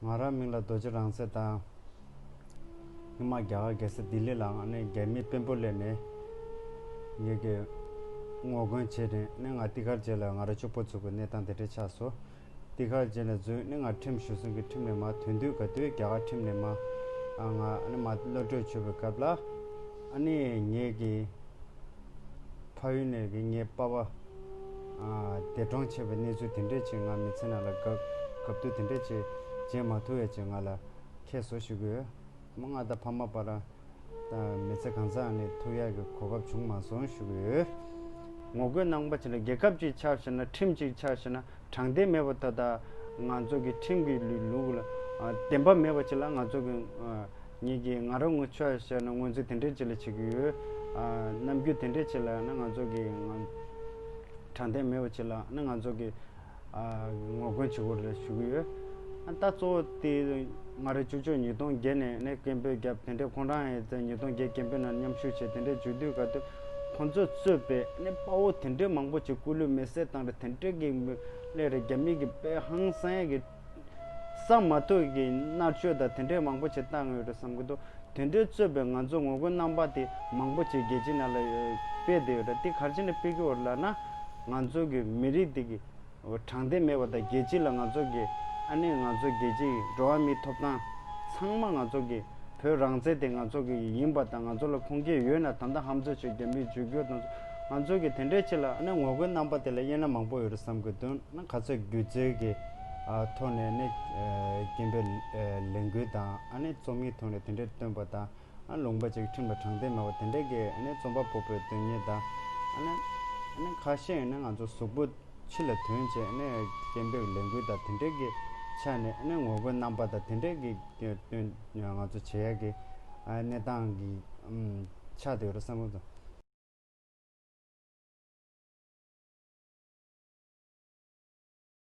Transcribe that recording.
ང་རང་མིང་ལ་རྡོ་རྗེ་རང་ཟེར་དང། སྔོན་མ་རྒྱ་གར་རྒྱལ་ས་ལྡི་ལི་ལའང་ནས་རྒྱ་མིའི་དཔོན་པོ་ལས་ནས་ཡོད། ངོ་རྒོལ་བྱས་རིང་ནས་ང་ཏི་ཁར་བྱས་ལ་ང་རང་ཕྱུག་པོ་ཚུགས་པའི་གནས་སྟངས་དེ་འདྲས་ཆགས་སོ། འདི་གར་རྗེས་ནས་འཛུལ་ནི་ང་ཁྲིམས་ཞུ་སྲིང་གི་ཁྲིམས་ནས་མ་དོན་དུས་ག་དུས་རྒྱ་གར་ཁྲིམས་ནས་མ། ང་ནི་མ་བློ་གྲོས་ཆོད་པའི་སྐབས་ལ། ཨ་ནི་ངེད་ཀྱི། ཕ་ཡུལ་ནས་ཀྱི་ངེད་པ་བ། འདས་གྲོངས་ཆེ་བའི་གནས་ཚུལ་དེ་འདྲའི་ཆེད་ང་མི་ཚེ་ན་ལ་ག་གབ་དུས་དེ་འདྲའི་ཆེད་རྗེས་མ་ཐུ་བའི་ཆེད་ང་ལ་ཁྱེད་བཟོ་ཞུ་གི་ཡོད། མ་ང་དང་ཕ་མ་བར། དང། མི་ཚེ་གང་སར་ནི་ཐུགས་ཡག་གི་གོ་སྐབས་བྱུང་མ་སོང་ཞུ་གི་ཡོད། ངོ་རྒོལ་གནང་པ་བྱས་ན་རྒྱལ་ཁབ་ཅིག་ཆགས་བྱས་ན་ཁྲིམས་ཅིག་ཆགས་བྱས་ན་དྲང་བདེན་མེད་པ་ད་ལྟ་ང་ཚོ་གི་ཁྲིམས་ཀྱི་ལུགས་ལ་བདེན་པ་མེད་པ་ཅིག་ལ་ང་ཚོ་གི་ཉིད་ཀྱི་ང་རང་ངོ་ཆོས་བྱས་ན་ངོས་འཛིན་དེ་འདྲས་ཅིག་ལ་བྱེད་ཀྱི་ཡོད། རྣམ་འགྱུར་དེ་འདྲས་ཅིག་ལ་ཡང་ན་ང་ཚོ་གི་དྲང་བདེན་མེད་པ་ཅིག་ལ་ཡང་ན་ང་ཚོ་གི། ངོ་རྒོལ་བྱེད་སྒོ་རེ་ཞུ་གི་ཡོད། ད་གཙོ་བོ་དེ་སྔ་རེ་ཆུ་ཆོད་ཉིས་སྟོང་བརྒྱད་ནས་ནས་སྐད་འབོད་བརྒྱབ་དེ་འདྲས་ཁོང་རང་ཡང་ཡོད་ཉིས་སྟོང་བརྒྱད་སྐད་འབོད་ནང་མཉམ་ཞུགས་བྱས་དེ་འདྲས་བྱུས་དུས་ག་དུས་ཁོང་ཚོས་གཙོས་པའི་ནས་དཔའ་བོ་དེ་འདྲས་མང་པོ་ཅིག་སྐུ་ལུས་མེ་བསྲེགས་བཏང་རེ་དེ་འདྲས་ཀྱི་ལས་རེ་རྒྱ་མི་གི་དཔའ་ཧང་སངས་ཀྱི་ས་མ་ཐོག་གི་མནར་གཅོད་དང་དེ་འདྲས་མང་པོ་ཆེ་བཏང་ཡོད་རེད་བསམ་གྱི་འདུག་དེ་འདྲས་རྩོད་པའི་ང་ཚོ་ངོ་རྒོལ་རྣམ་པ་དེ་མང་པོ་ཆེ་རྒྱལ་སྤྱིའི་ནང་ལ་སྤེལ་བསྡད་ཡོད་རེད་དེ་གར་བྱས་ནས་སྤེལ་གྱི་འོ་ལ་ན་ང་ཚོ་གི་མི་རིགས་དེ་གི་དྲང་བདེན་མེད་པ་དང་རྒྱལ་སྤྱི་ལ་ང་ཚོ་གི་ཨ་ནེ་ང་ཚོ་རྒྱལ་སྤྱི་ཡི་འགྲོ་བ་མིའི་ཐོབ་ཐང་ཚང་མ་ང་ཚོ་གི་བོད་རང་བཙན་དེ་ང་ཚོ་གི་ཡིན་པ་དང་ང་ཚོ་ལ་ཁུངས་སྐྱེལ་ཡོད་ན་ད་ལྟ་ཧམ་རྩོད་བྱས་རྒྱ་མིའི་བརྗོད་བསྒྱུར་དང་ང་ཚོ་གི་དེ་འདྲས་ཆེ་ལ་ཨ་ནེ་ངོ་རྒོལ་རྣམ་པ་དེ་ལ་དབྱེ་ན་མང་པོ་ཡོད་རེད་བསམ་གྱི་འདུག་ན་ག་ཚོད་སྒྱུ་རྩལ་གྱི། ཐོག་ནས་ནས་རྐྱེན་པས་ལས་འགུལ་དང་རྩོམ་ཡིག་ཐོག་ནས་དེ་འདྲའི་སྟོན་པ་དང་ལུང་པ་ཅིག་ཁྲིམས་ལ་དྲང་བདེན་མེད་པ་དེ་འདྲའི་གི་རྩོམ་པ་པོ་པོའི་དོན་གཉེར་དང། ཁ་ཤས་ནི་ང་ཚོ་གཟུགས་པོ་ཕྱི་ལ་དོན་བྱས་རྐྱེན་པས་ལས་འགུལ་དང་དེ་འདྲའི་གི་ཆ་ནས་ངོ་རྒོལ་རྣམ་པ་དང་དེ་འདྲའི་གི་སྟོན་ང་ཚོ་བྱེད་ཡག་གི་གནས་སྟངས་ཀྱི་ཆ་དེ་ཡོད་རེད་བསམ་མོད་ཀྱི།